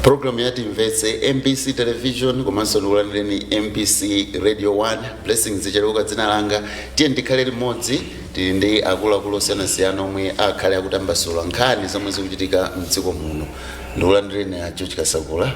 programu ya timvetse mbc television komanso ndikulandireni mbc radio 1 blessings cheleuka dzina langa tiyeni tikhale limodzi tili ndi akuluakulu osiyanasiyana omwe akhale akutambasula nkhani zomwe zikuchitika mdziko muno ndikulandireni a george kasakula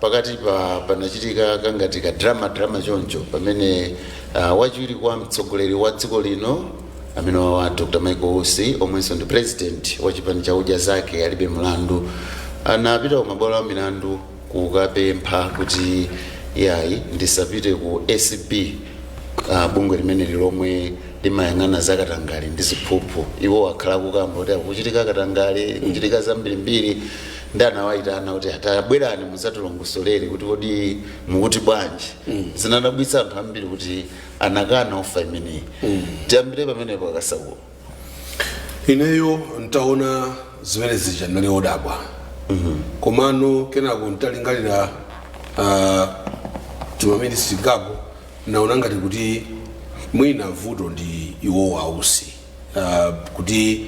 Pakati pa panachitika kangati ka drama drama choncho pamene uh, wachiwiri kwa mtsogoleri wa dziko lino amene wawa Dr. Michael Usi omwenso ndi president wa chipani cha udya zake alibe mlandu anapita ku mabwalo a milandu kukapempha kuti yayi ndisapite ku ACB uh, bungwe limeneli lomwe limayang'ana za katangale ndi ziphuphu iwo akhala akukamba kuti a kukuchitika katangale kukuchitika zambirimbiri ndi anawayitana kuti atabwerani mudzatilongosolere kuti kodi mukuti bwanji zinadabwitsa anthu ambiri kuti anakana ofa imeneyi tiyambire pamenepo a kasakula ineyo ntaona zimene zija nnali odabwa komano kenako ntalingalira ah, timaminitsi tingapo naona ngati kuti mwina vuto ndi iwowo ausi uh, kuti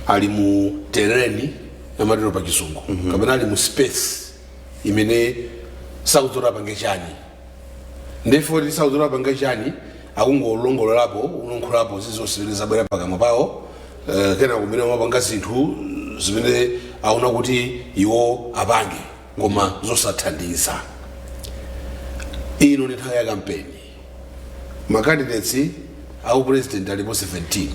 ali mu tereni amatero pa chizungu mm -hmm. kapena ali mu space imene sakudziwa apange chani nde poti sakudziwa apange chani akungolongololapo kulankhulapo zilizonse zimene zabwera pakamwa pawo uh, kenako kumenenso kumapanga zinthu zimene aona kuti iwo apange koma zosathandiza ino ndi nthawi ya kampeni ma candidates a upresident alipo 17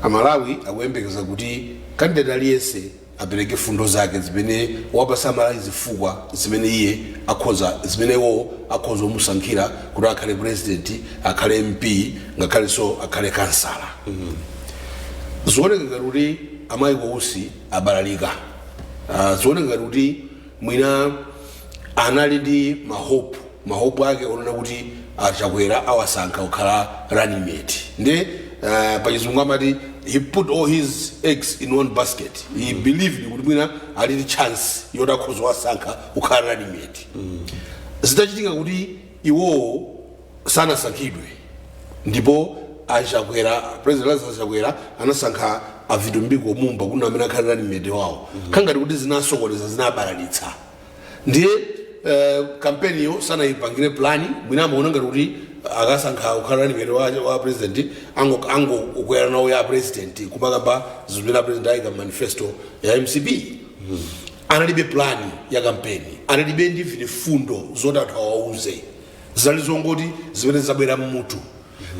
amalawi akuyembekeza kuti kandideti aliyense apereke fundo zake zimene kuwapatsa amalawi zifukwa zimene iye akhoza zimene iwo akhoza kumusankhira kuti akhale president akhale mp ngakhalenso akhale kansala zioneka ngati kuti a michael usi abalalika Ah, zioneka ngati kuti mwina anali ndi mahope mahope ake onena kuti a chakwera awasankha kukhala running mate nde uh, pachizungu amati he put all his eggs in one basket he believed kuti mwina ali ndi chance yoti akhoza kuwasankha kukhala running mate zitachitika kuti iwowo sanasankhidwe ndipo a chakwera president lazarus chakwera anasankha a vitumbiko mumba kuti ndi amene akhale running mate wawo zikhala ngati kuti zinasokoneza zinabalalitsa ndiye eh, kampeniyo sanayipangire plani mwina amaona ngati kuti akawasankha kukhala running mate wa, wa president ango- angokwera nawo ya president kumakamba zimene a president ayika mmanifesto ya mcp analibe plani ya kampeni analibe ndi mfundo zoti anthu awauze zinali zongoti zimene zabwera mmutu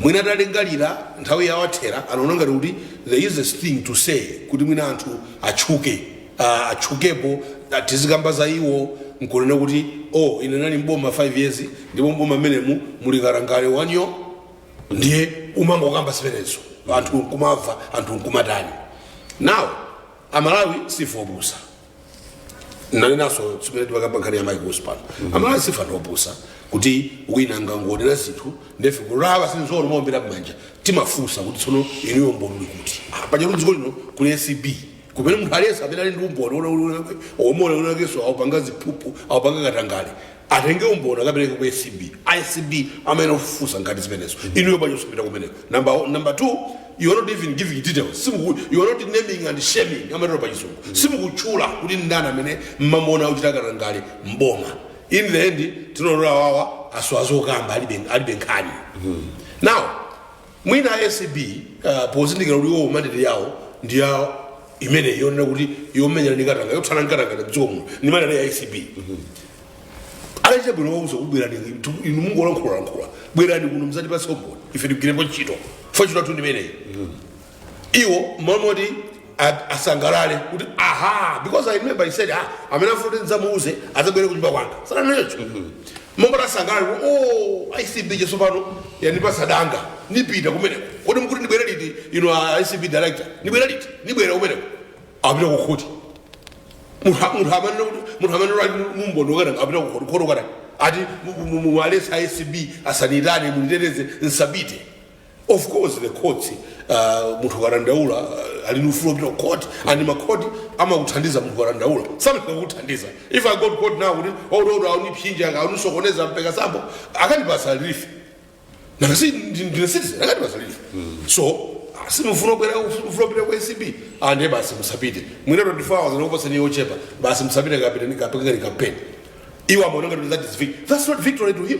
mwina atalingalira nthawi yawathera anaona ngati kuti it's the easiest thing to say kuti mwina anthu atchuke ah, atchukepo ah, tizikamba za iwo nkunena kuti oh ine ndinali mboma 5 years ndipo mboma mmenemu muli katangale wanyooo ndiye umangokamba zimenezo anthu nkumamva anthu nkumatani now amalawi sife opusa nanenanso chimene timakamba nkhani ya Michael Usi pano amalawi sife anthu opusa kuti wina angangonena zinthu ndiye ife kumawa- sitingowawombera mmanja timafunsa kuti tsono inuyo umboni uli kuti Ah, paja kuti dziko lino kuli acb kumene munthu aliyense amene ali ndi umboni omuona mnzake akupanga ziphuphu akupanga katangale atenge umboni akapereke ku acb acb amayenera kufufuza nkhani zimenezo inuyo bwanji osapita kumeneko number, o- number two you are not even giving details Simuku, you are not naming and shaming amatero pa chizungu simukutchula kuti ndani amene mumamuona akuchita katangale mboma in the end tingoona kuti awa asowa zokamba alibe alibe nkhani now Mwina a acb pozindikira kuti iwowo mandate yawo ndiye imeneyi yonena kuti yomenyana ndi katanga yothana nkatangale mdziko muno ndi mandate ya acb anachita bwino kuwauza kuti bwerani tu- inu mukungolankhulalankhula bwerani kuno mzatipatse umboni ife tigwirepo ntchito poti ntchito yathu ndi imeneyi iwo mmalo moti a- asangalale kuti aha because i remember he said ah amene akufuna kuti ndidzamuuze adzabwere kunyumba kwanga sananene choncho mmalo moti asangalale kuti oh acb yes pano yandipatsa danga nipita kumeneko kodi mukuti ndibwere liti inu a acb director ndibwere liti ndibwere kumeneko apita kukhoti munthu munthu amanena kuti munthu amanena ati umboni wakana apita kukhoti kukhoti wakana ati muwaletse acb asandiitane munditeteze nsapite of course the courts uh, munthu ukadandaula uh, ali ndi ufulu wopita ku court and makhoti amakuthandiza munthu ukadandaula sometimes amakuthandiza if i go to court now kuti ododo akundipsinja akundisokoneza ndipeka sample akandipasa relief nanga si ndi- ndine citizen akandipasa relief so simufuna kubwera ufuna kupita ku acb ndiye basi musapite mwina 24 hours ndikupasani yochepa basi musapite kapitani kapangeni kampeni iwo amaona ngati that is victory that's not victory to him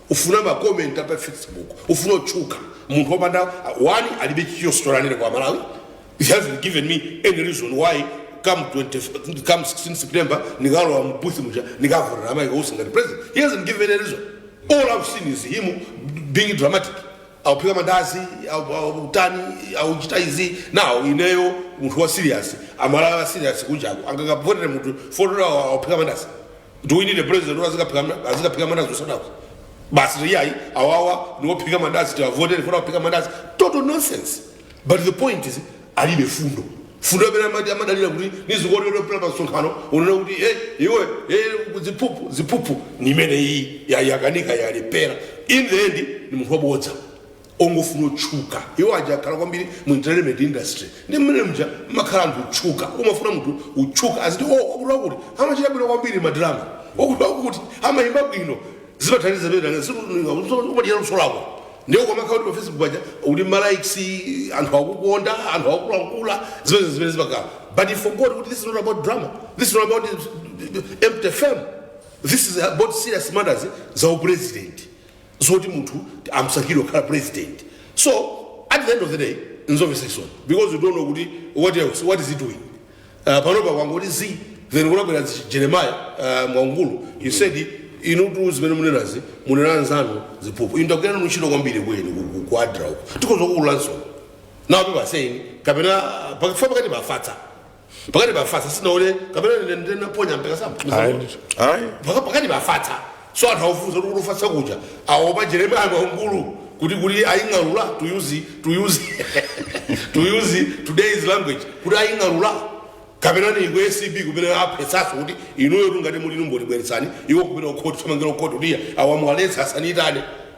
ufuna ma comment apa facebook ufuna kutchuka munthu opanda one alibe story yoti anene kwa amalawi he hasn't given me any reason why come 20, come 16 september nikalowa mbuthi muja nikavotera a Michael Usi ngati president he hasn't given any reason all i've seen is him being dramatic akuphika mandasi au- au- akutani akuchita izi now ineyo munthu wa serious amalawi a serious kunjaku angakavotere munthu poti awo akuphika mandasi do we need a president who azikaphika mna- azikaphika mandazi zosadako basi ndiye ayi awawa niwophika mandazi tiwavotere for kuphika mandazi total nonsense but the point is alibe fundo fundo amene amati amadalira kuti nizikawonera pera pa msonkhano kunena kuti e iwe e ziphuphu ziphuphu nimene iyi yakanika yalephera in the end ni munthu wabodza ongofuna kutchuka iwo aja akhala kwambiri mu entertainment industry ndi mmene mja mmakhala anthu otchuka umafuna munthu utchuke aziti o wakuti wakuti amachita bwino kwambiri madrama wakuti wakuti amayimba bwino zimathandiza pamene umachita luso lako ndiye ukamakhala kuti pa facebook paja uli malikes anthu akukonda anthu akulankhula zimene zimene zimakhala but he forgot kuti this is not about drama this is not about empty fame this is about serious matters za upresident zoti munthu amusankhire kukhala president so at the end of the day nzomvesa chisoni because you don't know kuti what else what is he doing uh, panopa kwangoti zi then kunabwera zi- jeremiah uh, mwaungulu he said inutu zimene munenazi munena anzanu ziphuphu inu ndagwira nanu ntchito kwambiri kwenu ku adra uko tikudzakuululanso now people are saying kapena pakifa pakati pafatsa pakati pa fatsa sinaone kapena ine ndinaponya mpekasamba ayi ndithu ayi Paka- pakati pa fatsa so anthu akufunsa kuti kuti fatsa kuja aopa jeremiah mwaungulu kuti kuti aying'alula to use to use to use today's language kuti aying'alula kapena ni ku acb kumene aopsezaso kuti inuyo ngati muli numboni bweretsani iwo kumene akuti asamangira ku khoti kuti akawaletse asanitane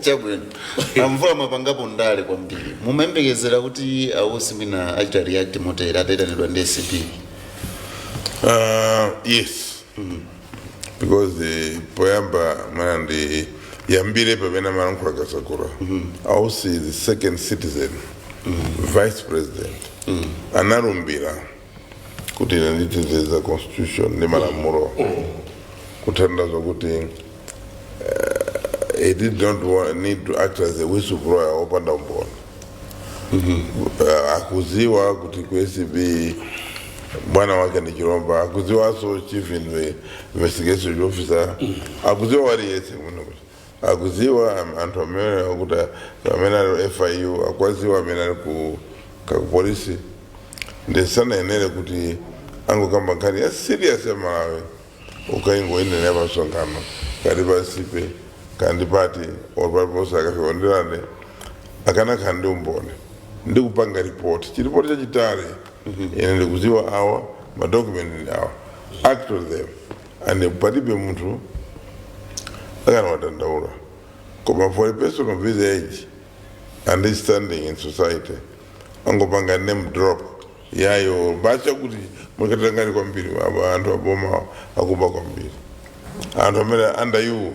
chabwino amvula mwapangapo ndale kwambiri mumayembekezera kuti ausi mwina achita react motere ataitanidwa ndi acb Uh, yes because the poyamba mwina ndiyambire pamene amalankhula kasakura ausi is the second citizen vice president analumbira kuti ine nditezeza constitution ndi malamulo kutanthauza kuti eh, he did not wa- need to act as a whistleblower opanda umboni Eh, akuziwa kuti ku acb bwana wake ni chilomba akuziwaso chief inve- investigation officer akuziwa aliyese muno akuziwa am- anthu amene akuti amene ali FIU akwaziwa amene ali ku kakupolisi nde sanayenere kuti angokamba nkhani ya serious ya Malawi kukaingoyinenera pa msonkhano kaya pa sip and paint party or paliponse akafika ndiye nde akanakhala ndi umboni ndikupanga ripoti chi ripoti chachitali ine ndikuziwa awa madokumenti ndi awa act on them and palibe munthu akanawadandaula koma for a person of his age and his standing in society angopanga name drop yayo bacha kuti muli katangale kwambiri aba anthu aboma akuba kwambiri anthu amene under you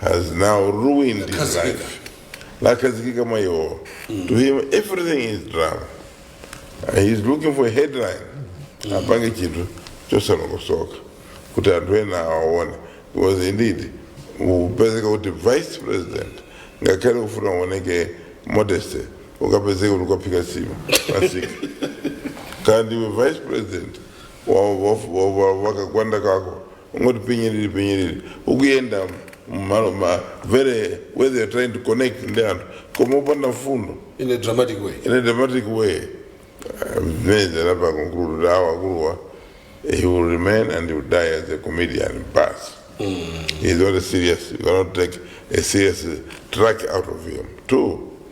has now ruined his life. Lakhazikika mwa iwowo. To him, everything is drama. Uh, He's looking for a headline. Apange chinthu chosalongosoka kuti anthu ena awaone. Because indeed, upezeka kuti vice president ngakhale kufuna uoneke modesty ukapezeka kuti ukaphika nsima pamsika ndi iwe vice president wa- wa- wa- wa- wakagwanda kako ungoti pinyiriri pinyiriri ukuyenda mmalo ma very where they are trying to connect ndi anthu koma opanda mfundo in a dramatic way in a dramatic way meza lapa conclude kuti awa akuluwa he will remain and he will die as a comedian basi he's not a serious you cannot take a serious track out of him two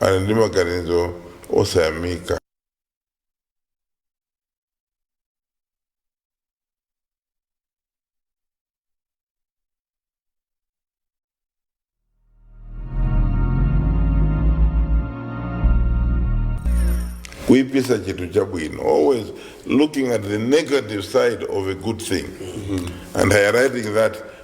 ali ndi maganizo osayamika. kuipitsa chinthu chabwino always looking at the negative side of a good thing and highlighting that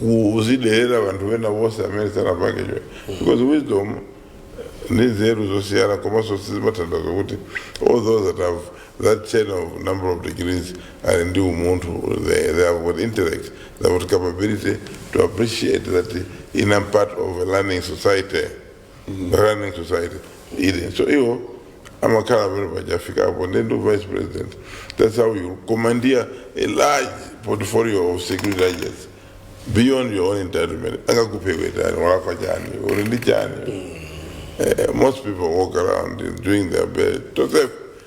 kuziderera vanthu vena vonse amene sanapange chwe because wisdom ndi nzeru zosiyana komanso sizimatanthauza kuti all those that have that chain of number of degrees ali ndi umunthu they, they have got intellect they have got capability to appreciate that I am part of a learning society learning society ili so iwo amakhala pamene pachafikapo ndi ndi vice president that's how you commandeer a large portfolio of security agents beyond your own entitlement angakuphe iwe ndani walakwa chani uli ndi chani Eh, most people walk around doing their best to serve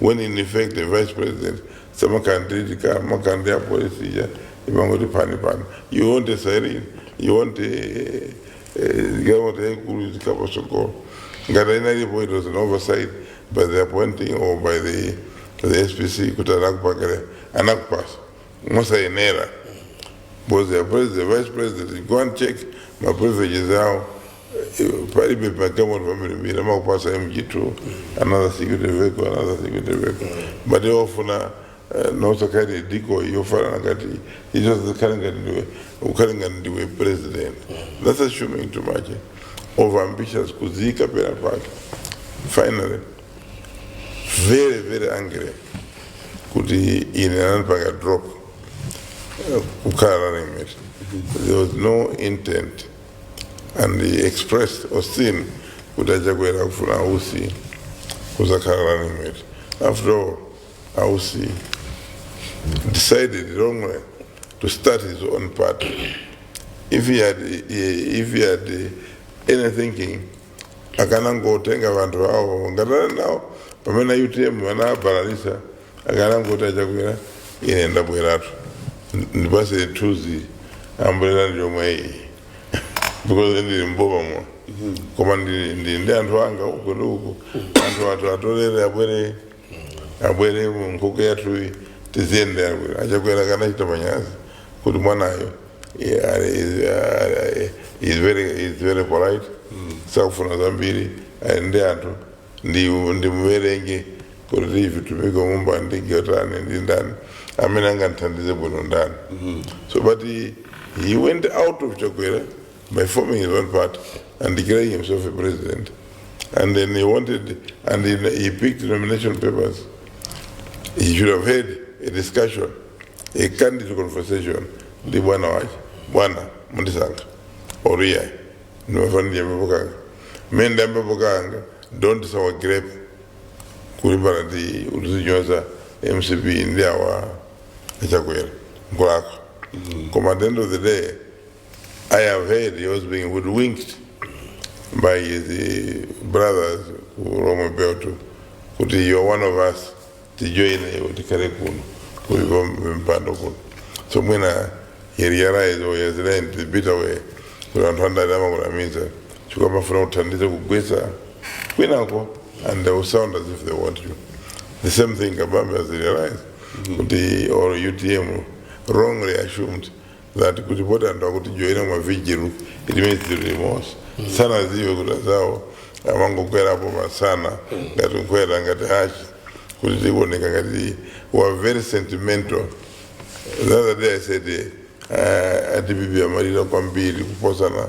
when in effect the vice president samakanditika makandi ya polisi ija imangoti pani pani you want a siren you want a- a- government yaikulu itikapasokolo ngati inalipo it was an oversight by the appointing or by the, the spc kuti anakupakira anakupasa mosayenera because the president, vice president, go and check my privileges out. palibe magalimoto ambirimbiri amakupatsa mg2 another security vehicle another security vehicle but ofuna nosakhale diko yofanana ngati izo zikhale ngati ndiwe ukhale ngati ndiwe president that's assuming too much over ambitious kuziika penapake finally very very angry kuti ine anandipanga drop eh, kukhala running mate there was no intent and he expressed austin kuti achakwera akufuna ausi kuzakhala running mate after all ausi decided wrongly to start his own party if he had, if he had any thinking akanangotenga vantu vavo ngatana nawo pamene utm vana abalalisa akanangoti achakwera ine ndabweratu ndipatse nthuzi ambulera ndi yomwe iyi because ndili m'bomamo koma ndili ndili ndi anthu anga uko ndi uko anthu athu atolele abwere abwere mu nkhuku yathuyi tiziyende akwera achakwera akanachita manyazi kuti mwanayo eh, ali- is- ah, eh, is very is very polite sakufuna zambiri ali ndi anthu ndi ndimuwerenge kuti vitumiki omumba ndi gatani ndi ndani amene angandithandize bwino ndani so but he, he went out of chakwera by forming his own party and declaring himself a president and then he wanted and he, he picked nomination papers he should have had a discussion a candid conversation ndi bwana wake bwana munandisankha oriya ndimafana ndi ambepo kanga mmene ndi ambepo kanga don't sour grape kulimbana ndi uli kunyoza mcp ndi awa achakwera nkulakwa koma at the end of the day i have heard he was being hoodwinked by his eh, brothers ku Lomwe Belt kuti you are one of us tijoyine iwe tikhale kuno kuli pampando kuno so when he realized or he has learned the bitter way kuti anthu andale amakunamiza chifukwa amafuna uthandize kugwetsa kwinako and they will sound as if they want you the same thing kabambe has realized kuti or utm wrongly assumed that kuti poti anthu akutijoyina m'ma vigil it means tili limodzi sanadziwe kuti azawo amangokwerapo masana ngati kukwera ngati hachi kuti tioneke ngati we are very sentimental the other day i said uh, a dpp amalira kwambiri kuposana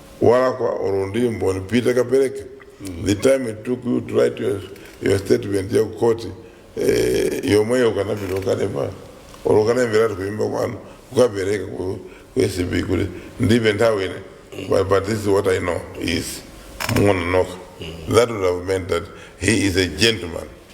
walakwayo olo ndi mboni pita kapereke the time it took you to write your, your statement ya kukoti eh, yomweyo ukanapita ukalemba olo ukanayimbiratu kuimba kwanu ukapereka ku ku acb kuti ndipeni nthawi ine but, but this is what i know is muona nokha that would have meant that he is a gentleman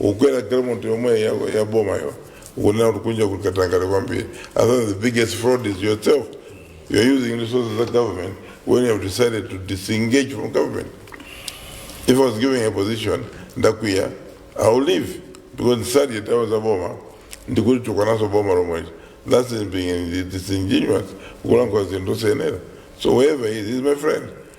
ukwera galimoto yomwe ya, ya boma yo ukunena kuti kunja kuli katangale kwambiri i think the biggest fraud is yourself you're using resources of government when you have decided to disengage from government if i was given a position ndakwiya i will leave because ndisadye ndalama za boma ndikulitukwananso boma lomwelo that's in being disingenuous kulankhula zinthu zosayenera so whoever he is, he is my friend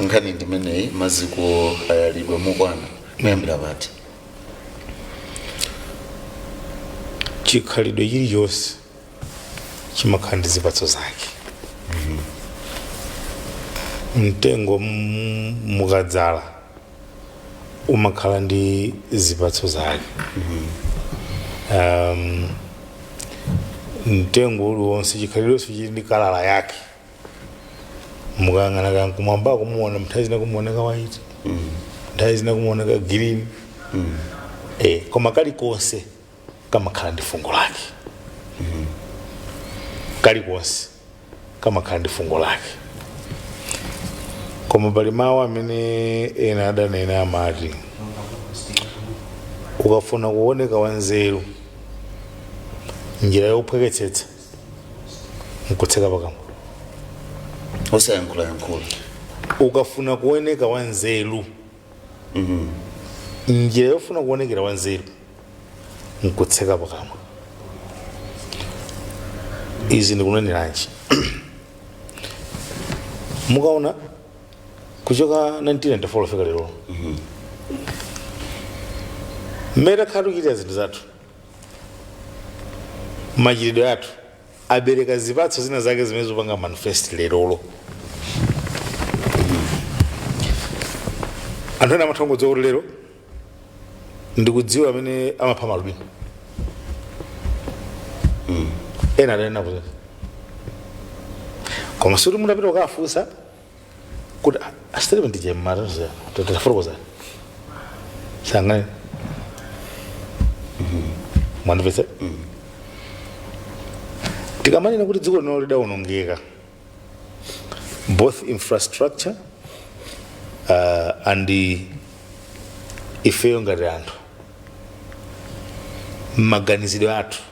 nkhani ndimeneyi maziko ayalidwa mokwana kuyambira pati chikhalidwe chilichonse chimakhala ndi zipatso zake mtengo m- mukadzala umakhala ndi zipatso zake um, mtengo uliwonse chikhalidwenso chili ndi kala yake mukayang'ana ka kumwamba kumaoneka nthawi zina kumaoneka white nthawi zina kumaoneka green eh, koma kalikonse kamakhala ndi fungo lake kalikonse kamakhala ndi fungo lake koma pali mawu amene ena adanena amati ukafuna kuoneka wanzeru njira yophweketsetsa nkutseka pakamwa osayankhulayankhula ukafuna kuoneka wanzeru njira yofuna kuonekera wanzeru nkutseka pakamwa izi ndikuneneranji mukaona kuchoka 1994 kufika lero mmene takhala tikuchitira zinthu zathu machitidwe athu abereka zipatso zina zake zimene zikupanga manifest lerolo anthu ena amatha kungodziwa kuti lero ndikudziwa amene amapha malubino ena adanena kuti koma sikuti munapita kukafunsa kuti asitelepe ndije mmatanziyana tatifotokozereni sangane mwandipese tikamanena kuti dziko lino lidawonongeka both infrastructure uh, and the ifeyo ngati anthu mmaganizidwe athu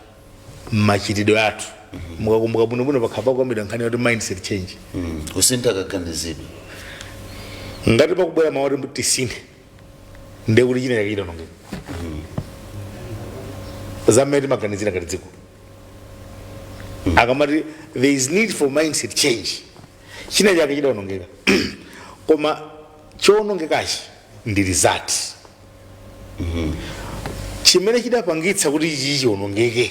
mmachitidwe athu mukakumbuka bwinobwino pakhala pakukamidwa nkhani yoti mindset change Mm. kusintha kaganizidwe ngati pakubwera mawu oti tisinthe ndiye kuti china chake chidawonongeka za mmene timaganizira ngati dziko akamati there is need for mindset change china chake chidawonongeka koma chowonongekachi ndi result chimene chidapangitsa kuti ichi chionongeke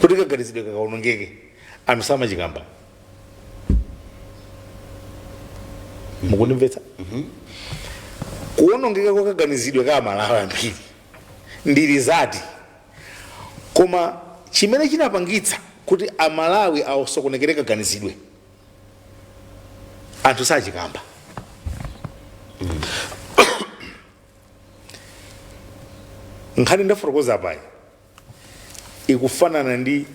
kuti kaganizidwe kakaonongeke anthu samachikamba mukundimvetsa kuonongeka kwa kaganizidwe ka amalawi ambiri ndi result koma chimene chinapangitsa kuti amalawi asokonekere kaganizidwe anthu sachikamba nkhani ndafotokoza apayi ikufanana ndi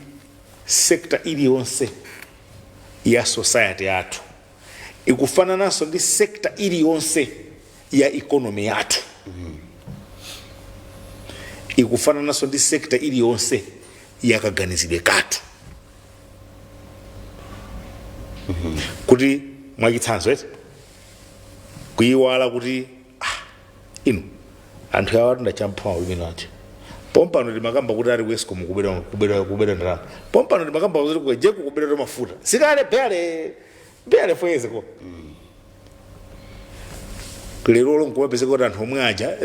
sekta iliyonse ya society yathu ikufanananso ndi sekta iliyonse ya ikonomi yathu ikufanananso ndi sekta iliyonse ya kaganizidwe kathu kuti mwachitsanzo eti kuyiwala kuti ah, inu anthu awa tinawachotsa ulamuliro wawo pompano timakamba kuti ali ku Escom kubedwa ndalama pompano timakamba kuti kujeko kubedwa kwa mafuta sikale bale barely four years ago lero lomwe nkupezeka kuti anthu omwe aja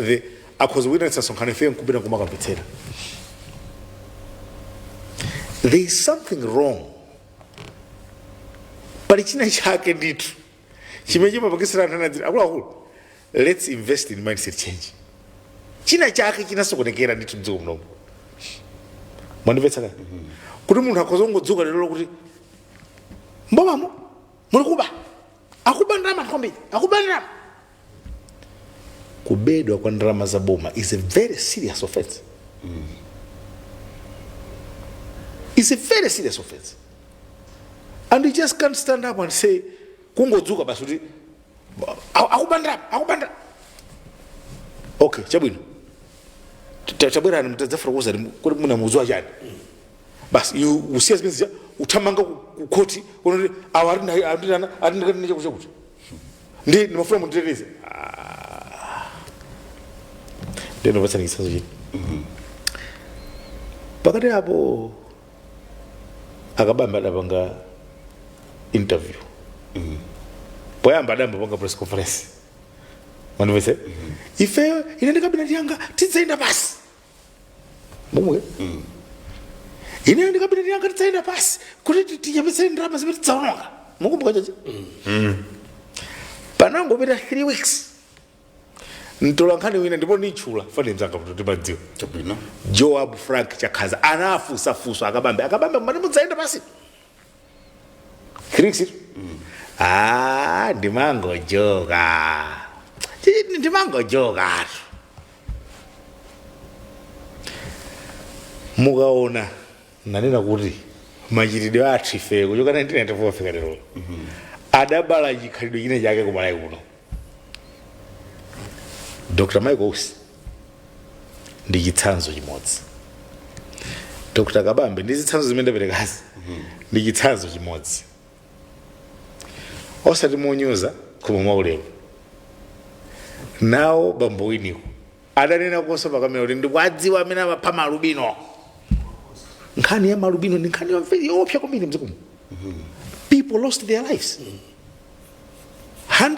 akhoza kuitanitsa msonkhano ife nkupita kumakamvetsera there is something wrong pali china chake ndithu chimene chimapakisira anthu anadzira akuluakulu let's invest in mindset change china chake chinasokonekera ndithu mdziko muno mwandimvetsa kani kuti munthu akhoza kungodzuka lero kuti mbomamo muli kuba akuba ndalama anthu kwambiri akuba ndalama kubedwa kwa ndalama za boma is a very serious offense is a very serious offense and you just can't stand up and say kungodzuka basi kuti "Aku- akuba ndalama akuba ndalama okay chabwino Ta- tabwerani mtadzafotokoza kuti munauzidwa chani basi iwe usiya zimene zija uthamanga ku- ku khoti ukuti awa atinena atinakatine chakuti chakuti ndi ndimafuna munditeteze ndiyeno patsanikisazo chini pakati apo akabamba adapanga interview poyamba adayamba panga press conference mundimvetse ifeyo ine ndi kabineti yanga tidzayenda pansi momwe ineyo ndikabineti yanga tidzaenda pansi kuti ti- tichepetse ndalama zimene tidzaononga mukumbuka chachi panangopita 3 weeks mtola nkhani wina ndipo ndimtchula chifukwa ndi mzanga kuti timamdziwa Chabwino. joab frank chakhaza anafunsafunsa a Kabambe a Kabambe mumati mudzaenda pansi 3 weeks ago. Ah, ndimangojoka. Chini ndimangojoka. Mukaona nanena kuti machitidwe athu ife kuchoka 1994 kufika lero. Adabala chikhalidwe china chake kuMalawi kuno. dr michael usi ndi chitsanzo chimodzi dr kabambe ndi zitsanzo zimene ndaperekazi ndi chitsanzo chimodzi osati monyoza koma mwaulemu nawo bambo winiko adanenakonso pakamera kuti ndikuwadziwa amene amapha maalubino nkhani ya maalubino ndi nkhani yoopsa kwambiri mdziko muno people lost their lives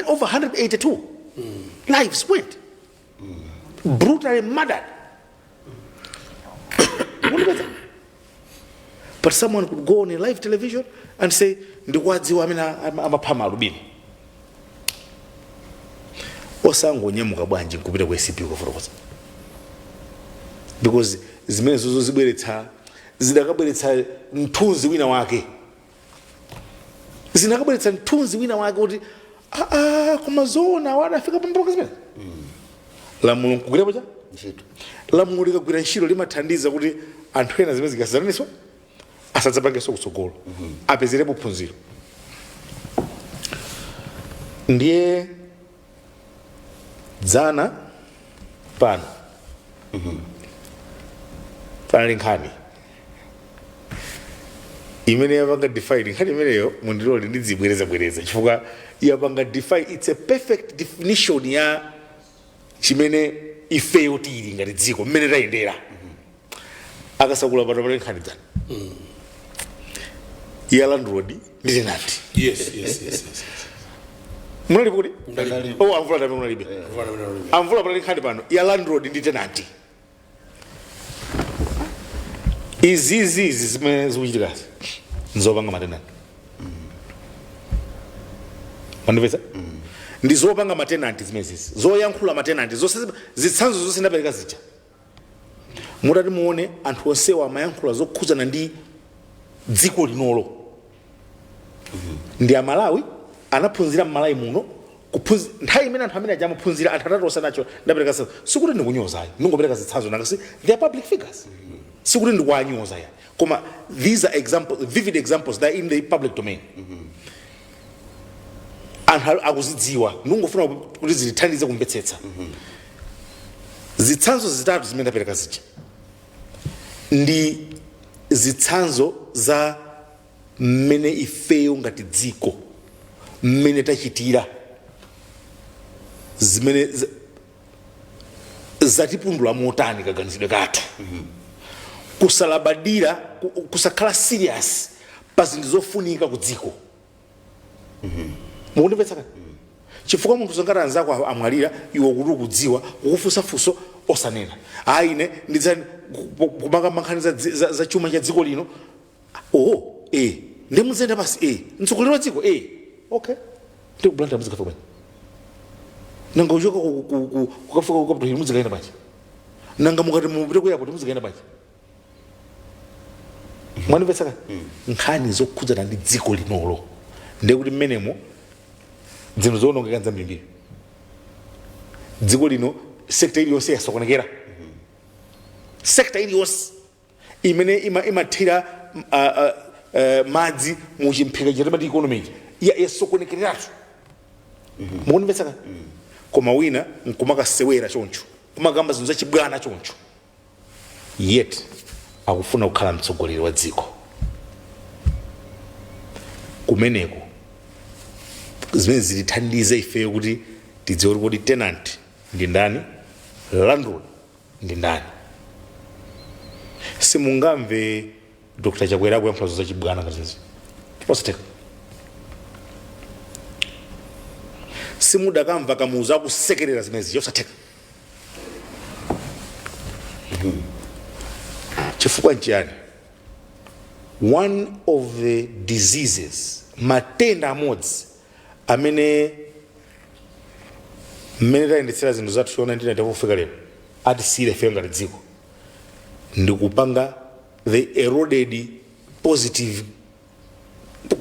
over 182 lives were brutally murdered but someone could go on a live television and say ndikuwadziwa amene am- amapha maalubino osangonyamuka bwanji nkupita ku acb kukafotokoza because zimenezozo zibweretsa zidakabweretsa mthunzi wina wake zinakabweretsa mthunzi wina wake kuti aa koma zoona awa adafika pomboka zimene lamulo nkugwira pa cha lamulo likagwira ntchito limathandiza kuti anthu ena zimene zikusazanazi asadzapangenso kutsogolo apezerepo phunziro ndiye dzana pano panali nkhani imene yapanga define nkhani imeneyo mundilole ndidzibwerezabwereza chifukwa yapanga define its a perfect definition ya chimene ifeyo tili ngati dziko mmene tayendera akasakura pano pali nkhani dzana ya landlord ndi tenanti yes yes yes yes munalipo kuti Ndalipo. oh amvula amene munalibe Mvula amene analibe. amvula pali nkhani pano ya landlord ndi tenanti izizi izi zimene zikuchitikazi nzopanga matenanti mwandipeza ndi zopanga matenanti zimenezizi zoyankhula matenanti zonse zitsanzo zonse ndapereka zija mutati muone anthu onsewa amayankhula zokhudzana ndi dziko linoli ndi amalawi anaphunzira mmalawi muno kuphunzi- nthawi imene anthu amene aja amaphunzira anthu atatu onse aja ndapereka zitsanzo sikuti ndikunyoza ayi ndingopereka zitsanzo nanga si they are public figures sikuti ndikuwanyoza ayi koma these are examples vivid examples that are in the public domain anthu ali- akuzidziwa ndikungofuna kuti zitithandize kumvetsetsa zitsanzo zitatu zimene ndapereka zija ndi zitsanzo za mmene ifeyo ngati dziko mmene tachitira zimene z- zatipundula motani kaganizidwe kathu kusalabadira ku- kusakhala serious pa zinthu zofunika ku dziko mukundimvetsa kani chifukwa munthu zoti anzako a- amwalira iwe kuti ukudziwa akukufunsa funso osanena ayi ine ndidzani kumakamba nkhani za, dzi- za, za chuma cha dziko lino oho eh ndiye muziyenda basi eh mtsogoleri wa dziko eh okay ndi ku blantyre muzikafika bwanji nanga kuchoka ku- ku- ku- kukafika ku capital hill muzikayenda bwanji nanga mukati mupite ku airport muzikayenda bwanji mwandimvetsa ka nkhani zokhudzana ndi dziko linolo ndiye kuti mmenemo zinthu zoonongeka nzambirimbiri dziko lino sekta iliyonse yasokonekera sekta iliyonse imene ima- imathira mm, ah, ah, eh, madzi mu chimphika cha timati economy ija ya- yasokonekereratu mukundimvetsa ka koma wina nkumakasewera choncho kumakamba zinthu zachibwana choncho yet akufuna kukhala mtsogoleri wa dziko kumeneko zimene zitithandize ifeyo kuti tidziwe kuti kodi tenant ndi ndani landlord ndi ndani? Simungamve Dr Chakwera akuyankhula zinthu zachibwana ngati izi? Zosatheka. Simudakamva Kamuzu akusekerera zimenezi? Zosatheka. Chifukwa nchiyani? One of the diseases, matenda amodzi amene mmene tayendetsera zinthu zathu kuchoka 1994 kufika lero atisiyire ifeyo ngati dziko ndikupanga the eroded positive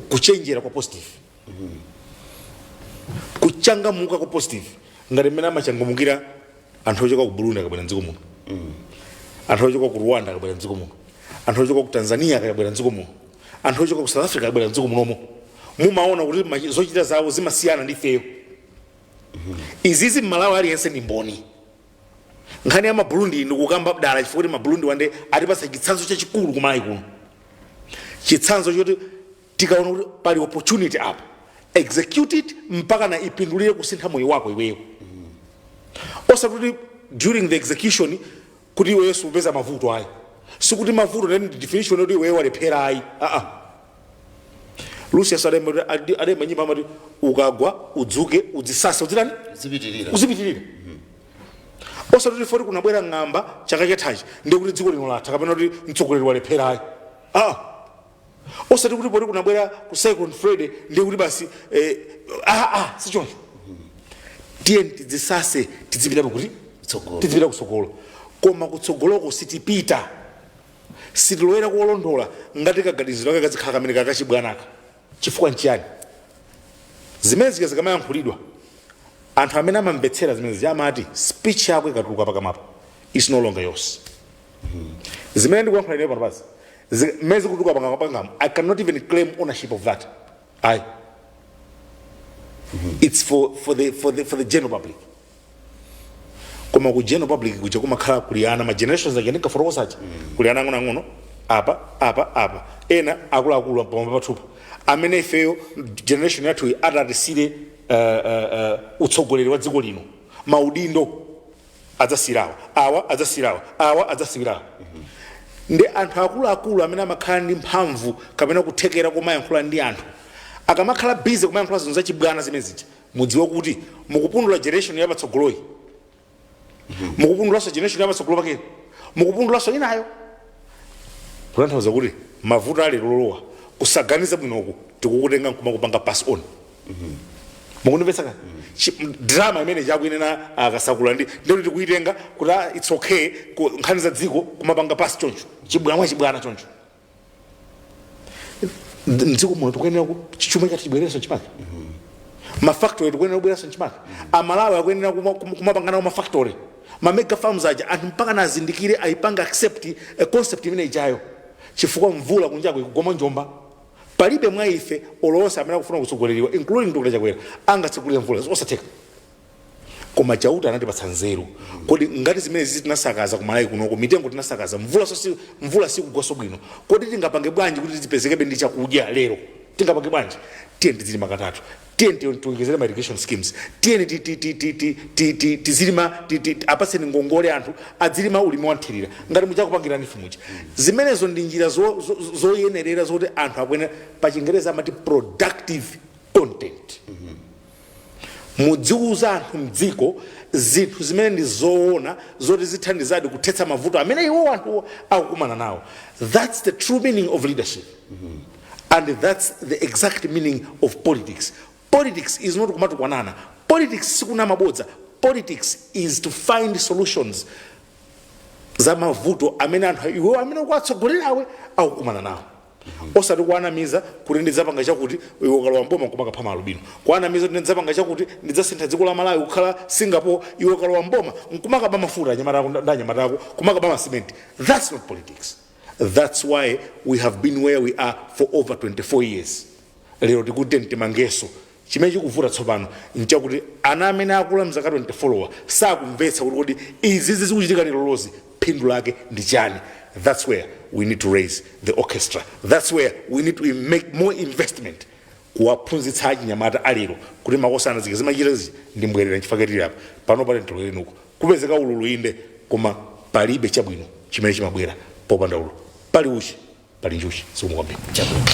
kuchenjera kwa positive kuchangamuka kwa positive ngati mmene amachangamukira anthu ochoka ku burundi akabwera mdziko muno anthu ochoka ku rwanda akabwera mdziko muno anthu ochoka ku tanzania akabwera mdziko muno anthu ochoka ku south africa akabwera mdziko munomo mumaona kuti machi- zochita zawo zimasiyana ndi ifeyo izizi mmalawi aliyense ndi mboni nkhani ya maburundi ndikukamba dala chifukwa kuti maburundi wande atipatsa chitsanzo chachikulu kumalawi kuno chitsanzo choti tikaona kuti pali opportunity apa execute it mpaka na ipindulire kusintha moyo wako iweyo osati kuti during the execution kuti iweyo sukupeza mavuto ayi sikuti mavuto ndi the definition yoti iweyo walephera ayi aa lucius adayimba- adi- adayimba nyimbo amati ukagwa udzuke udzisase udzitani uzipitirira uzipitirira osati kuti foti kunabwera ng'amba chaka chathachi ndiye kuti dziko lino latha kapena kuti mtsogoleri walephera ayi aa osati kuti poti kunabwera ku cyclone freddy ndiye kuti basi eh, ah, ah, sichoncho tiyeni tidzisase tidzipita pakuti Kutsogolo. tidzipita kutsogolo koma kutsogoloko sitipita sitilowera kolondola ngati kaganiziro kake kadzikhala kamene kakachibwanaka chifukwa nchiyani zimene zika zikamayankhulidwa anthu amene amamvetsera zimene ziya amati speech yako ikatuluka pakamwapo is no longer yours zimene ndikuyankhula ineyo pano pasi mmene zikutuluka pakamwa panga i cannot even claim ownership of that ayi it's for, for, the, for, the, for the general public koma ku general public kuja kumakhala kuli ana ma generations aja ndinkafotokoza aja kuli ana ang'onoang'ono apa apa apa ena akuluakulu pamwamba pathupa amene ifeyo generation yathuyi adzatisiyire uh, uh, uh, utsogoleri wa dziko lino maudindo adzasiyira awa awa adzasiyira awa awa adzasiyira awa ndi anthu akuluakulu amene amakhala ndi mphamvu kapena kuthekera komayankhula ndi anthu akamakhala busy kumayankhula zinthu zachibwana zimene zija mudziwe kuti mukupundula generation yapatsogoloyi mukupundulaso generation yapatsogolo pakeyi mukupundulaso inayo kutanthauza kuti mavuto akulowerera kusaganiza bwinoku tikukutenga nkumakupanga pass on mukundimvetsa kani Chi- m- drama imene Chakwera akasakula ndi ndikuti tikuitenga kuti ah, its okay ku- nkhani za dziko kumapanga pass choncho chibwana chibwana choncho Nd- mdziko muno tikuyenera ku- chuma chathu chibwereranso chimake mafactory tikuyenera kubweranso chimake amalawi akuyenera kuma- kuma- kumapanga mafactory mamega farms aja anthu mpaka nazindikire ayipanga accept a concept imene ijayo chifukwa mvula kunjako ikukoma njomba Palibe mwa ife olo onse amene akufuna utsogoleriwa including Dr Chakwera angatsegulire mvula zosatheka koma Chauta anatipatsa nzeru kodi ngati zimene zizi tinasakaza ku Malawi kunoko mitengo tinasakaza mvula so si mvula sikugwaso bwino kodi tingapange bwanji kuti tizipezekebe ndi chakudya lero tingapange bwanji tiyeni tizilima katatu tiyeni tiwonjezere ma irrigation schemes tiyeni ti- ti- ti- ti- ti- ti- ti- tizilima ti- ti- apatseni ngongole anthu adzilima ulimi wanthirira ngati mmene akupangira aDr muja zimenezo ndi njira zo- zo- zo- zoyenerera zoti anthu akuyenera pa chingereza amati productive content mudziwuza anthu mdziko zinthu zimene ndi zoona zoti zithandizadi kuthetsa mavuto amene iwo anthu akukumana nawo that's the true meaning of leadership and thats the exact meaning of politics politics is not kumatukwanana politics sikunama bodza politics is to find solutions za mavuto amene anthu iwo amene ukuwatsogolerawe akukumana nawo osati kuwanamiza kuti ndidzapanga chakuti iwe ukalowa mboma kumakapha maalubino kuwanamiza kuti ndidzapanga chakuti ndidzasintha dziko la malawi kukhala singapore iwe ukalowa mboma nkumakaba mafuta ndi anyamata ako ndi anyamata ako kumakaba masimenti thats not politics That's why we have been where we are for over 24 years. Lero tikuti timangenso chimene chikuvuta tsopano nchakuti ana amene akula mzaka 24 wa sakumvetsa kuti kodi izizi zikuchitika lerolizi phindu lake ndi chani. That's where we need to raise the orchestra. That's where we need to make more investment kuwaphunzitsa achinyamata a lero kuti makosana zija mumachita zija ndi mbwerera nchifukwa chake tili apa pano pali ntolo inde nako kupezeka ululu inde koma palibe chabwino chimene chimabwera popanda ululu pali uchi pali njuchi zikomo kwambiri chabwino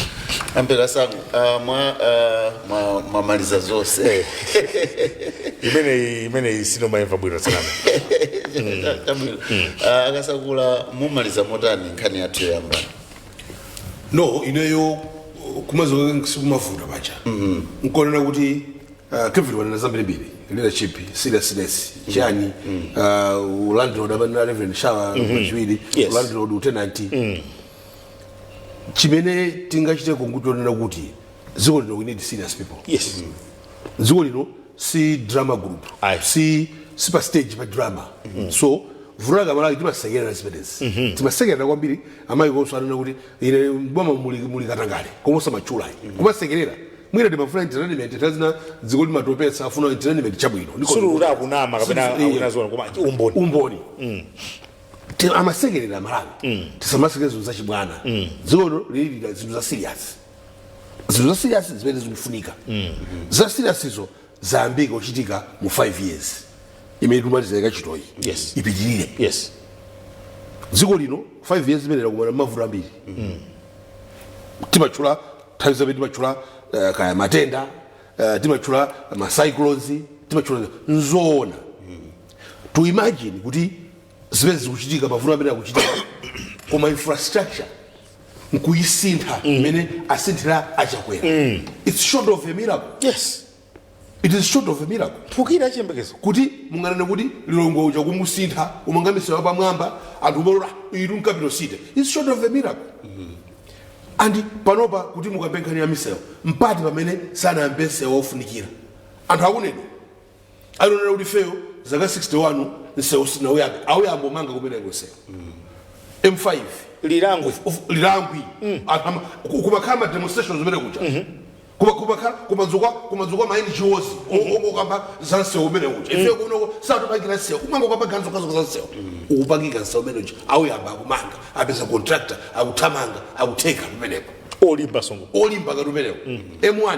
a Mbeka Sangu uh, mwa uh, mwa- mwamaliza zonse imeneyi imeneyi simunayimve bwino sanena chabwino uh, a Kasakula mumaliza motani nkhani yathu yoyamba no ineyo kumaliza sikumavuta paja nkunena kuti ah, Kevin wanena zambirimbiri leadership seriousness chani ah, ulandlord amanena Reverend Shawa pachiwiri Yes. ulandlord utenanti chimene tingachite kungoti tinene kuti dziko lino we need serious people yes dziko lino si drama group Aye. si si pa stage pa drama so vuto la Amalawi timasekerera zimenezi timasekerera kwambiri amayi konso anena kuti ine boma muli, muli katangale koma osamatchula ayi kumasekerera mwina timafuna entertainment nthawi zina dziko limatopetsa afuna entertainment chabwino Ndiko- sulu kuti akunama kapena Sulu- eh, akunena zoona koma umboni umboni Ti- amasekerera Amalawi tisamasekerere zinthu zachibwana dziko lino lilira zinthu za serious zinthu za serious zimene zikufunika za serious izo zayambika kuchitika mu 5 years imene tikumaliza yakachitiyi Yes. zipitirire yes dziko lino 5 years imeneyi lakumana mavuto ambiri timatchula nthawi zambiri timatchula eh, kaya matenda eh, timatchula macyclones timatchula nzoona to imagine kuti zimene zikuchitika mavuto amene akuchitika koma infrastructure nkuyisintha mm. mmene mm. asinthira a Chakwera mm. its short of a miracle yes it is short of a miracle kuphukira chiyembekezo kuti munganene kuti Lilongwe uja kumusintha kumanga misewu pamwamba anthu kumalowa ilo mu capital city its short of a miracle mm. and panopa kuti mukambe nkhani ya misewu ndi pati pamene sanayambe msewu ofunikira anthu akunena alionera kuti ifeyo zaka 61 msewu sanauyambe auyamba kumanga kumeneko msewu M5 Lilongwe Of- of- Lilongwe Anthu ama- ku- kumakhala ma demonstrations zimene kuja Kuma- kumakhala kumadzuka kumadzuka ma NGOs ongokamba za msewu umene uja ife kunoko satipangira msewu kumangokamba ganzo kazoka za msewu ukupangika msewu umene uja auyamba akumanga apeza contractor akuthamanga akuteketa kumeneko olimba songo olimba ngati umenewo M1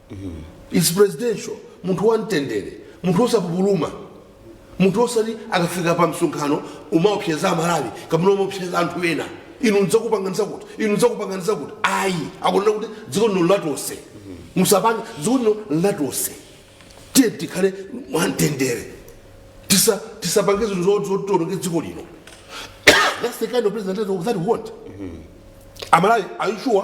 it's presidential munthu wamtendere munthu osapupuluma munthu osati akafika pa msonkhano kumaopseza amalawi kapena kumaopseza anthu ena inu ndidzakupanganiza kuti inu ndidzakupanganiza kuti ayi akunena kuti dziko lino ndi latonse musapange dziko lino ndi latonse tiye tikhale mwamtendere Tisa- tisapange zinthu zo- zotiononge dziko lino that's the kind of president that we want amalawi are you sure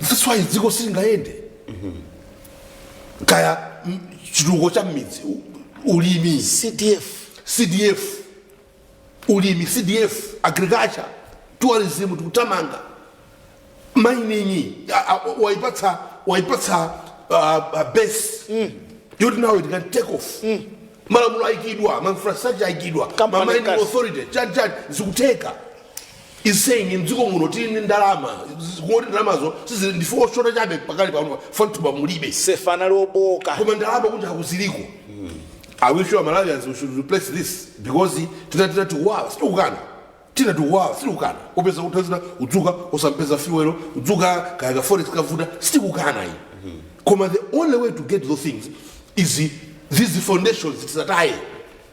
That's why dziko silingayende kaya mm, chitukuko cha mmidzi u- ulimi cdf cdf ulimi cdf agriculture tourism tikutamanga mining a- a- waipatsa waipatsa uh, uh, base yoti nawo it can take off malamulo aikidwa mainfrastructure aikidwa mining authority chani chani zikutheka is saying mdziko muno tili ndi ndalama z- kungoti ndalamazo sizili ndife oshota chabe pakali pano fantuba mulibe sefa yanali yobooka koma ndalama kunja kuziliko i wish you malawians we should replace this because zina zina zikuwawa sitikukana zina zikuwawa sitikukana kupeza kuti zina kudzuka osapeza fuel kudzuka kaya ka forex kavuta sitikukana ayi koma the only way to get those things is these foundations tisataye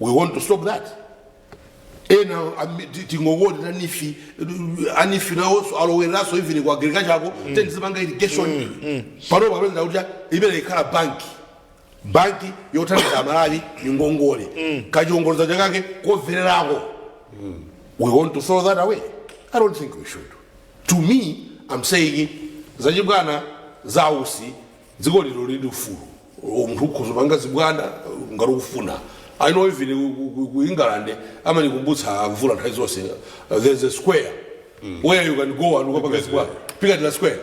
we want to stop that ena ami- ti- tingongoti NEEF NEEF nawonso alowereranso even ku agriculture ako ten akumanga irrigation panopa apeza kuti imene ikhala banki banki yothandiza amalawi ngongole kachiongoladzanja kake kocheperako we want to throw that away i don't think we should to me i'm saying zachibwana zautsi Dziko lino lili ndi ufulu, munthu ukhoza kupanga zibwana ngati ukufuna. I know even ku- ku- ku- ku England amanikumbutsa mvula nthawi zonse there's a square where you can go and kukapanga zibwana Piccadilly square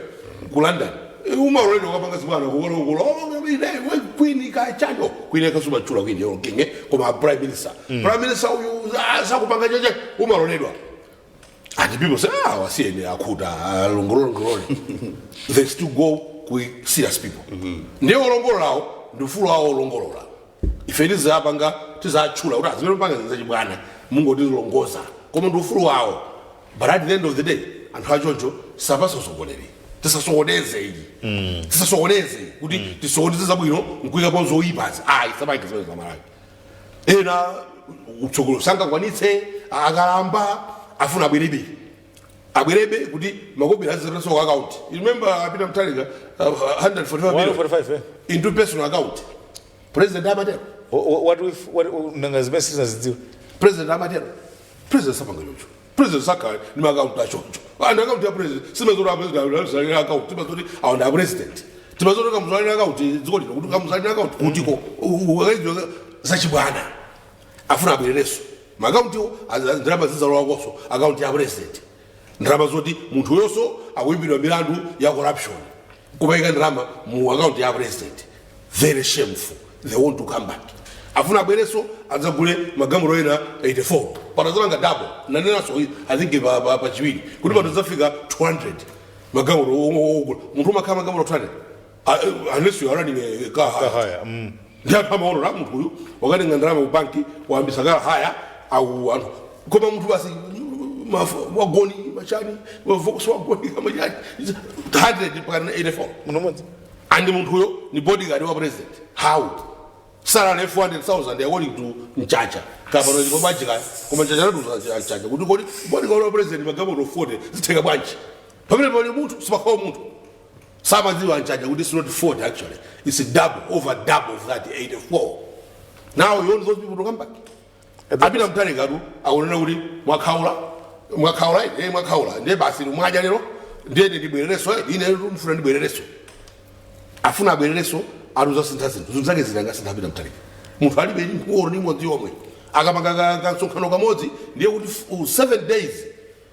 ku London Eh, umaloledwa kukapanga zibwana kulongolola queen chani chani queen akamutchula queen yo king eh, koma prime minister prime minister uyu ah, sakupanga chacha umaloledwa And people say, ah, wasiyeni akhuta alongolole ngolole. They still go with serious people. Ndiye olongololawo ndi ufulu wawo kulongolola. Ife tidzapanga tidzatchula kuti zimene mukupanga zachibwana nkumazilozaloza koma ndi ufulu wawo. But at the end of the day anthu achocho sapatsa utsogoleri. Tisasokoneze ayi. Tisasokoneze kuti tisokoneze zabwino nkuyikapo zoyipazi. Ayi sabayi tisokoneze za Malawi. ena utsogolo sangakwanitse akalamba afuna abwerebe abwerebe kuti makobiri azilowetsa ku account You remember a Peter Mutharika uh, 145 million 145 eh? into personal account president amatero Wha- wha- what if what nanga zimene sitinazidziwe president amatero president sapanga chocho president sakhale ndi maakaunti achoncho and akaunti ya president simazoti apresidentsalira akaunti timazoti aona a president timazoti kamuzalira akaunti dziko lino kuti kamuzalira akaunti kutiko ukaizwa zachibwana afuna abwererenso maakauntiwo ndalama zidzalowakonso akaunti ya president ndalama zoti munthu uyonso akuimbidwa milandu ya corruption kumaika ndalama mu akaunti ya president very shameful they want to come back afuna abwerenso adzagule magalimoto ena 84 patazalanga dabo nanenanso i think pa- pa- pachiwiri kuti pano zafika 200 magalimoto ogula munthu kumakhala magalimoto 200 Ah, eh, unless you are running a car hire haya mm. ndi anthu amaona la munthu uyu wakatenga ndalama ku banki wayambisa car hire au anthu koma munthu basi mafu- wagoni machani Volkswagen kamachani 100 mpakana 84 munthu mmodzi and munthuyo ni bodyguard wa president how salary 400000 according to mchacha kapano ndipo bwanji kaya koma mchacha anatiuza mchacha kuti kodi bodyguard wa president magalimoto 40 zitheka bwanji pamene pali munthu sipakhala munthu samadziwa mchacha kuti it's not 40 actually it's double over double of that 84 now you want those people to come back a Peter Mutharikatu akunena kuti mwakhaula mwakhaula eh, eh mwakhaula ndiye basi mwadya lero ndiye ine ndibwererenso eh, ine ndifuna ndibwererenso afuna abwererenso ati adzasintha zinthu zinthu zake ziti angasinthe a Peter Mutharika munthu alibe ndi mkuwolo ndi imodzi yomwe akapanga ka- ka- kamsonkhano kamodzi ndiye kuti f- u- seven days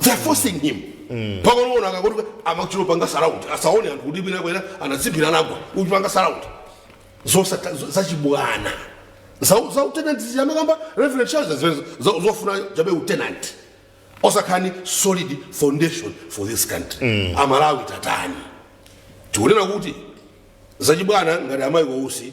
they're forcing him pakonoona akakuti amachita kupanga surround asaone anthu kuti pina kwera anadziphira anagwa kuchipanga surround zosata zo- zachibwana za za utenant zija amakamba reverend charles zimenezo za- zofuna chabe utenant osakhala ndi solid foundation for this country amalawi tatani tikunena kuti zachibwana ngati a Michael Usi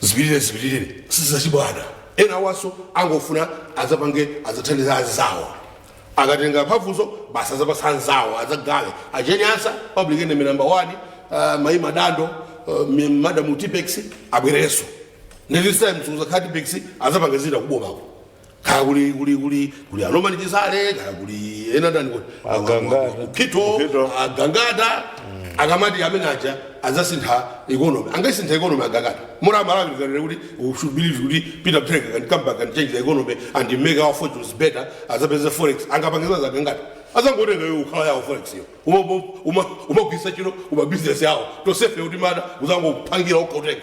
zipirire zipirire sizachibwana ena awanso angofuna azapange azathandiza anzawo akatenga mphamvuzo basi azapasa anzawo azakhale a Jane Ansah public enemy number one uh, mayi madando uh, mi- madam tipex abwerenso ndi this time sizakhala tipex azapanga zina kubomako kaya kuli kuli kuli kuli a Norman Chisale kaya kuli ena ndani kuti Agangata. kukhito Kukhito. agangata akamati amene aja azasintha economy angaisintha economy agangata mura malawi kanene kuti we should believe kuti Peter Mutharika can come back and change the economy and make our fortunes better azapeze forex angapange za a Gangata azangotenga iwo ukhala yawo forex yo Uma- uma- uma- kumagwiritsa ntchito kumabizinesi yawo tosefe kuti mada kuzangopangira okotenga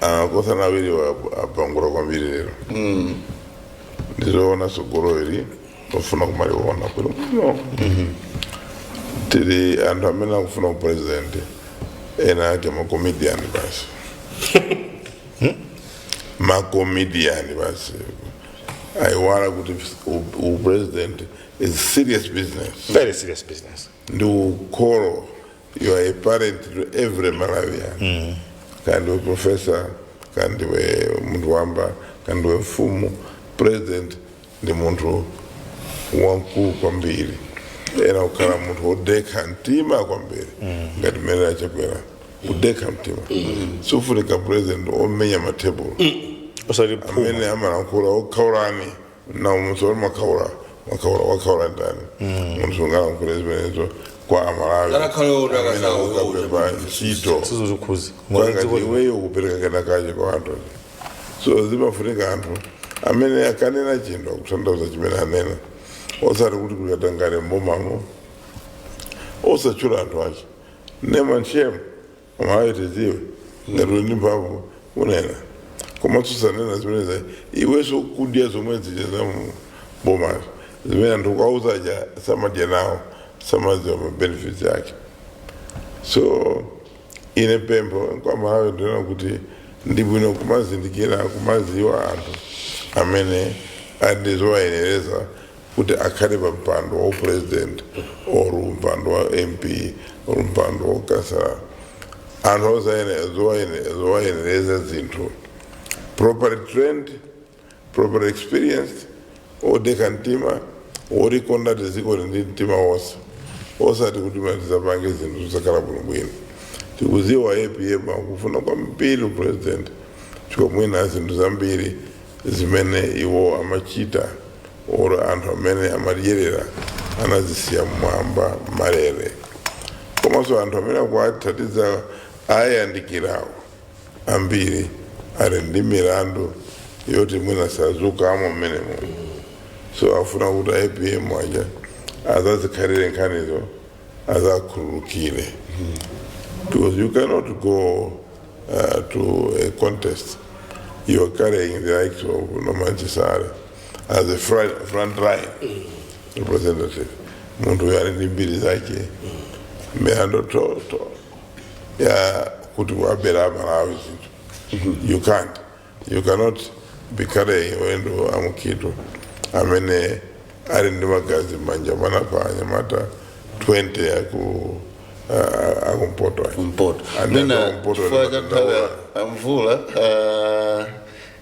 anakothana awiriwa apangula kwambiri lero ndizoona tsogolo ili ofuna kumaliona bwino bwino tili anthu amene akufuna upresident ena ake makomediani basi makomediani basi ayiwala kuti u- upresident is serious business very serious business ndi ukholo you are a parent to every malawian mm. kandiwe professor kandiwe munthu wamba kandiwe mfumu president ndi munthu wamkulu kwambiri ena kukhala munthu wodekha mtima kwambiri mm. ngati mmene a Chakwera odekha mtima mm. sufunika president omenya matebulo mm. osati phuma amene amalankhula okhaulani namuso uli mwakhaula mwakhaula wakhaula ndani munthu sungalankhule zimenezo kwa amalawi amene akukapempha ntchito kwanga iweyo kupereka kenakache kwa anthu so zimafunika anthu amene akanena chinthu akutanthauza chimene anena osati kuti kuli katangale mbomamo osatchula anthu ache name and shame Amalawi tidziwe ngati uli ndi mphamvu kunena koma susanena zimeneza iwenso ukudya zomwe zija za mu bomazo zimene ndikukuuza zija samadya nawo samadziwa ma benefits ake so ine pempho kwa amalawi ndi lakuti ndi bwino kumazindikira kumadziwa anthu amene ali ndi zowayenereza kuti akhale pa mpando wa upresident or mpando wa mp or mpando wa ukhansala anthu osayenera zowayenera- zowayenereza zinthu properly trained properly experienced odekha mtima wolikonda dziko lino ndi mtima wonse osati kuti amati azapange zinthu zosakhala bwinobwino tikudziwa apm akufuna kwambiri upresident chifukwa mwina zinthu zambiri zimene iwo amachita oro anthu amene amadyerera anazisiya mmwamba malere komanso anthu amene akuwathandizawo awayandikirawo ambiri ali ndi milandu yoti mwina sazatulukamo mmenemo so afuna kuti apm aja azazikhalire nkhanizo azakhululukire because you cannot go uh, to a contest, you're carrying the likes of Nomanchi Sare as a front, front line representative. Muntu yari ndi mbiri zake mihando to to ya kuti wabera Malawi zinthu. You can't. You cannot be carrying Mwendo a Mukhito amene ali ndi magazi m'manja mana pa anyamata 20 aku uh, akumpoto aja. mwina chifukwa cha nthawi ya- ya mvula ah,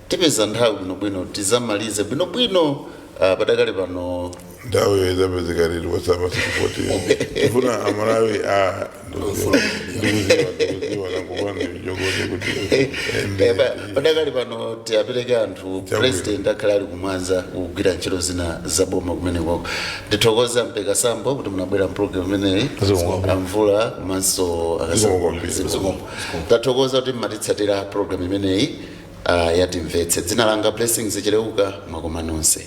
tipeza nthawi bwinobwino tizamalize bwinobwino ah, padakali pano nthawi yoti izapezeka yatithera pa WhatsApp 614 tifuna amalawi a padakali pano tiapereke anthu president akhala ali kumwanza kugwira ntchito zina za boma kumeneko ndithokoza mpeka sambo kuti munabwera mprogram imeneyi amvula komanso akazikoma tathokoza kuti mmatitsatira program imeneyi ah, ya timvetse dzina langa blessings cheleuka mwakoma nonse